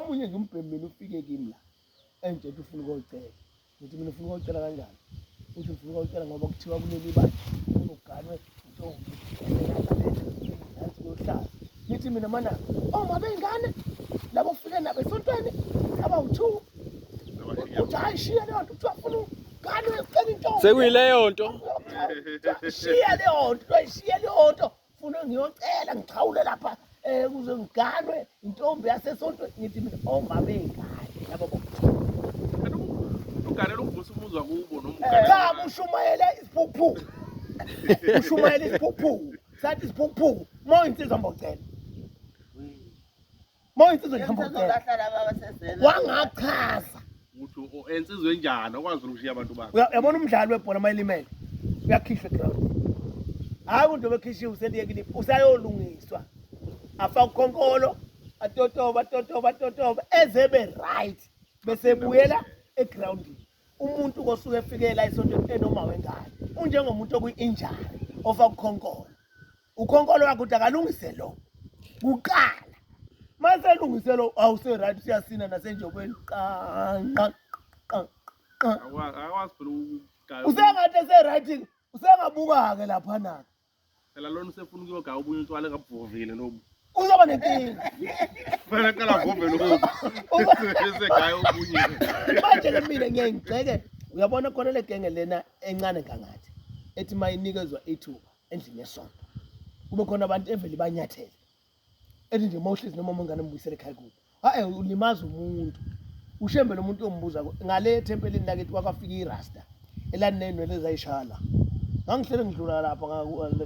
omunye nje umbhemu mina ufike kimi la enje ethi ufuna ukuyocela ngithi mina ufuna ukuyocela kanjani uthi ufuna ukuyocela ngoba kuthiwa kuleli bandla unoganwe ntombi nansi yohlala ngithi mina mana oma oh, bengane labo fike nabo esontweni abawu-two uthi hayi shiya leyo nto kuthiwa funa uganwe ucela intombi sekuyileyo nto shiya leyo nto shiya leyo nto funa ngiyocela ngixhawule lapha um kuze ngiganwe intombi yasesontweni ngithi mina omama oh, ey'ngane yabo bo uganela ukuvusa umuzwa kubo nomcha ushumayele isiphukuphuku ushumayele isiphukuphuku sathi isiphukuphuku uma uyinsizwa mbocela Mawuyinsizwa ngihamba ukutshela. Bahlala baba sezela. Wangachaza. Uthi o- o- ensizwe enjani okwazi ukushiya abantu bakhe. Uya- Uyabona umdlali webhola mayilimele. Uyakhishwa ground. Hayi umuntu obekhishiwe useliyekile usayolungiswa. Afa ukhonkolo atotoba atotoba atotoba ezebe right bese buyela egroundini. Umuntu kosuke efikela isonto enoma wengane. Unjengomuntu okuyi injury ofa ukhonkolo. ukhonkolo wakho ukuthi akalungise lo kuqala maselungise lo awuseright siyasina nasenjobeni qanqa akwazi phela ukugaya usengathi eseright usengabuka-ke laphana-ke phela lona usefuna ukuyogaya obunye utshwala engabuvovile lobu uzoba nenkinga fanele qala vove lobu esegaya obunye manje-ke mina ngiyaye ngigxeke uyabona khona le genge lena encane kangathi ethi mayinikezwa ithuba endlini yesonto kube khona abantu evele banyathele ethi nje uma uhlezi noma uma ingane mbuyisele ekhaya kubo hayi ulimaza umuntu ushembe lo muntu ombuza ngale ethempelini lakithi kwafika irasta elanenwele zayishala ngangihlele ngidlula lapha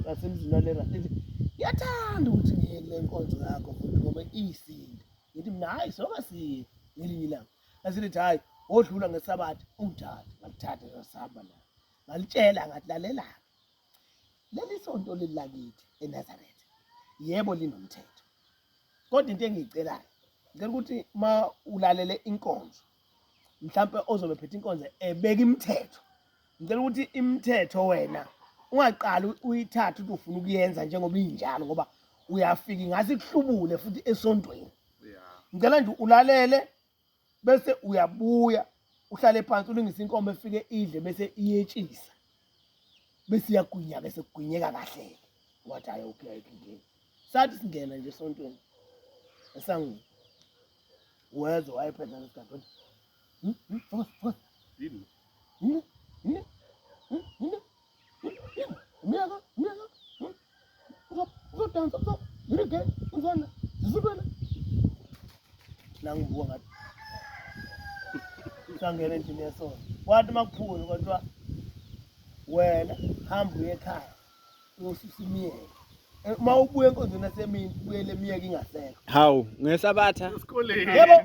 ngasemzini walera lithi ngiyathanda ukuthi ngiye kule nkonzo yakho futhi ngoba iyisinde ngithi mina hhayi sokasiye ngelinye ilanga asilithi hhayi wodlula ngesabatha ungithathe ngalithatha ngasihamba la ngalitshela ngathi lalelaphi leli sonto leli lakithi eNazaretha yebo linomthetho kodwa into engiyicelayo ngicela ukuthi ma ulalele inkonzo mhlawumbe ozobe phethe inkonzo ebeka imithetho ngicela ukuthi imithetho wena ungaqali uyithathe ukuthi ufuna ukuyenza njengoba injalo ngoba uyafika ingase kuhlubule futhi esontweni ngicela nje ulalele bese uyabuya uhlale phansi ulungise inkomo efike idle bese iyetshisa bese iyagwinya ke sekugwinyeka kahle wathi hayi okay ayikho inkinga sathi singena nje esontweni esangweni wezwa wayephetha nesigadi wathi hmm, hmm, focus focus yini yini yini yini Umyeka, umyeka. Uzodansa, uzo. Yirike, uzona. Zizubele. Nangibuka ngathi. Sangena endlini yesona. Wathi makuphula kodwa wena hamba uye ekhaya. Uyosusa imiyeka. uma ubuya enkonzweni yasemini ubuyele emiyeke ingasekho hawu ngesabatha esikoleni yebo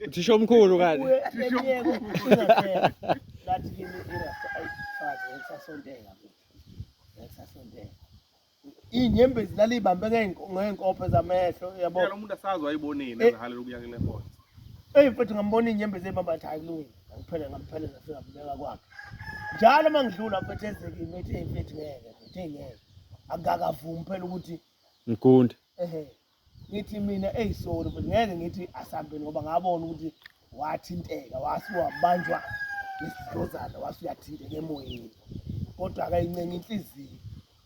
uthisha omkhulu kanti ngathi kimi irasaathi ngisasonteka ngisasonteka iy'nyembezi laliyibambe ngey'nkophe zamehlo yabo lo muntu asazi wayibonile eh. ezihalela ukuya kule nkonzo eyi mfethu ngambona iy'nyembezi ey'bamba athi hayi kulungile ngiphele ngampheleza fika mbeka kwakhe njalo uma ngidlula mfethu ezekimi ethi eyi mfethu ngeke mfethu eyi ngeke akakavumi phela ukuthi ngigunde ehe ngithi mina eyi sorry but ngeke ngithi asambe ngoba ngabona ukuthi wathinteka wase wabanjwa isidlozana wase uyathinteka emoyeni kodwa akayincenga inhliziyo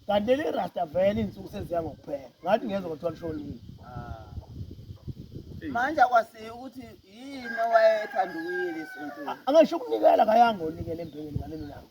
kanti leli rasta vele iy'nsuku seziya ngokuphela ngathi ngezwa kuthiwa lishonile ah. manje akwasiyi ukuthi yini owayethanda ukuyile sonto angasho ukunikela kayangonikela embhekeni ngalelo langa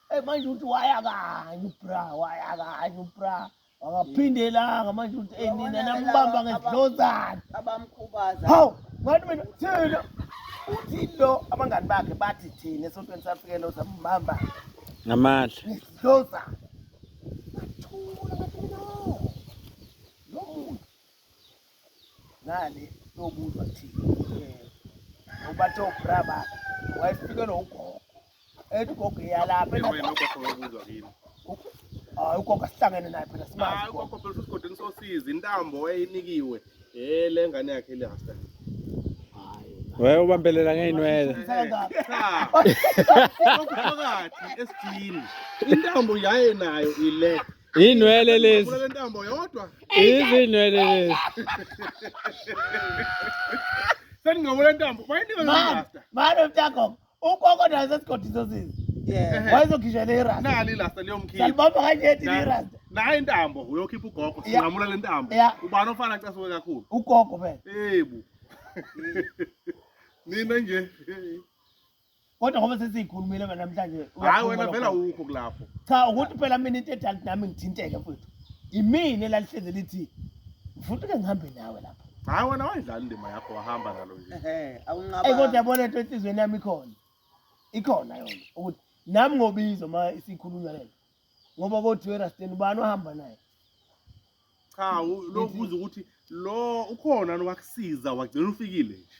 Hey manje uthi waya kanye ubra waya kanye ubra akaphindelanga manje uthi hey nina nambamba ngesidlozana abamkhubaza hawu ngathi mina thina uthi lo abangani bakhe bathi thina esontweni safike lo sambamba ngamandla ngesidlozana ngale yokuzwa ukuthi ubathe ubra bakhe wayefike nogogo ethi ugogo eyalapha hayi ugogo asihlangene naye phela simazi ugogo phela usigodi ngisosiza intambo wayeyinikiwe eh le ngane yakhe le hasta wewe ubambelela ngeyinwele phakathi esijini intambo yaye nayo ile Inwele lezi. Ufuna lentambo yodwa. Izinwele lezi. Seningabona intambo. Bayinika Man, lasta. man of Jacob, ugogo naye sesigodi sosizi. Yeah. Wayezokhishwa le rasta. Nali lasta liyomkhipha. Salibamba kanje thi le rasta. Nayi intambo uyokhipha ugogo. Yeah. Singamula lentambo. Yeah. Ubani ofana casuke kakhulu. Ugogo phela. Ebu. Nina nje. kodwa ngoba sesiyikhulumile ke namhlanje hayi wena phela ukho kulapho cha ukuthi phela mina into edala nami ngithinteke mfethu imini elalihleze lithi mfuthu ke ngihambe nawe lapho hayi wena wayidlala indima yakho wahamba nalo nje ehe awunqaba ey kodwa yabona into enhlizweni yami ikhona ikhona yona ukuthi nami ngobizo ma isikhulunywa lento ngoba kothiwe rasten ubani ohamba naye cha lokubuza ukuthi lo ukhona nowakusiza wagcina ufikile nje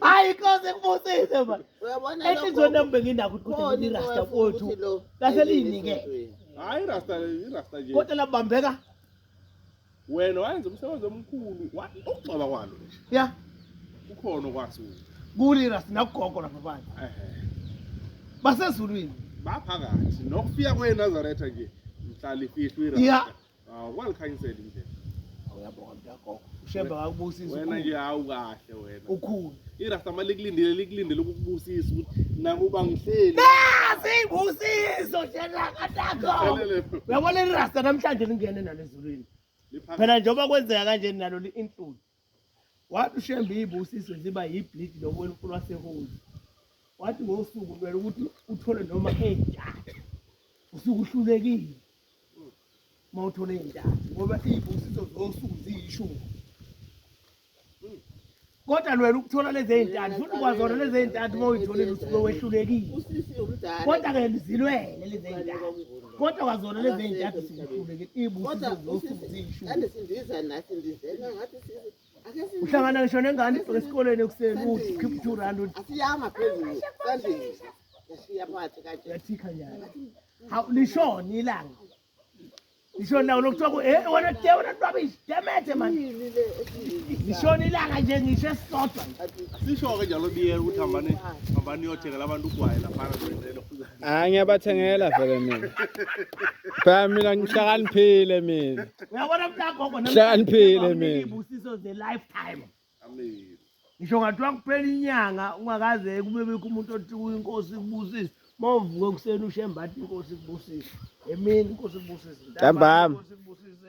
hayi inkosi kubusise ma enhliziyweni yami benginakho ukuthi kuthi irasta kwethu laseliyinike hayi irasta irasta nje kodwa labambeka wena wayenza umsebenzi omkhulu ukugcoba kwalo nje ya ukhona okwazi kuli irasta nakugogo lapha phansi basezulwini baphakathi nokufika kwenazaretha nje mhlala ifihlwe irasta Hawu wangikhanyisela indlela. Awuyabonga mntagogo. Ushembe akakubusisa. Wena nje hawu kahle wena. Ukhulu. Irasta mali likulindile likulindile ukukubusisa ukuthi nakuba ngihleli. Asibusiso njena katako. Uyabona irasta namhlanje lingene nalo ezulwini. Phela njengoba kwenzeka kanje nalo li-include. Wathi uShembe iy'busiso ziba yibhlidi lokuwela umfula waseHoli. Wathi ngosuku kumele ukuthi uthole noma ey'ntathu. Usuke uhlulekile uma uthole ey'ntathu ngoba iy'busiso zosuku ziyishumi. Kodwa lwela ukuthola lezi ey'ntathu futhi ukwazona lezi ey'ntathu uma uyitholile usuke wehlulekile. Kodwa-ke zilwele lezi ey'ntathu. kodwa kwazona lezi ey'ntathu sikhuleke ibusiuhlangana ngisho nengane ibheke esikoleni ekuseni uthi khipha two rand yathikha nyana hawu lishoni ilanga lishoni lawo lokuthiwa ku e wena de wena lwabishi demete mani lishoni ilanga nje ngisho esisodwa sisho-ke njalo biyela ukuthi hambani hambani uyothengela abantu ugwayi laphana hayi ngiyabathengela vele mina phela mina ngihlakaniphile mina uyabona mntagogo Hlakaniphile mina. ibusiso the lifetime Amen. ngisho ngathiwa kuphela inyanga ungakaze kube bikho umuntu othi kuyo inkosi ikubusise uma uvuke ekuseni ushembathi inkosi ikubusise emini inkosi ikubusise Ntambama. Inkosi ikubusise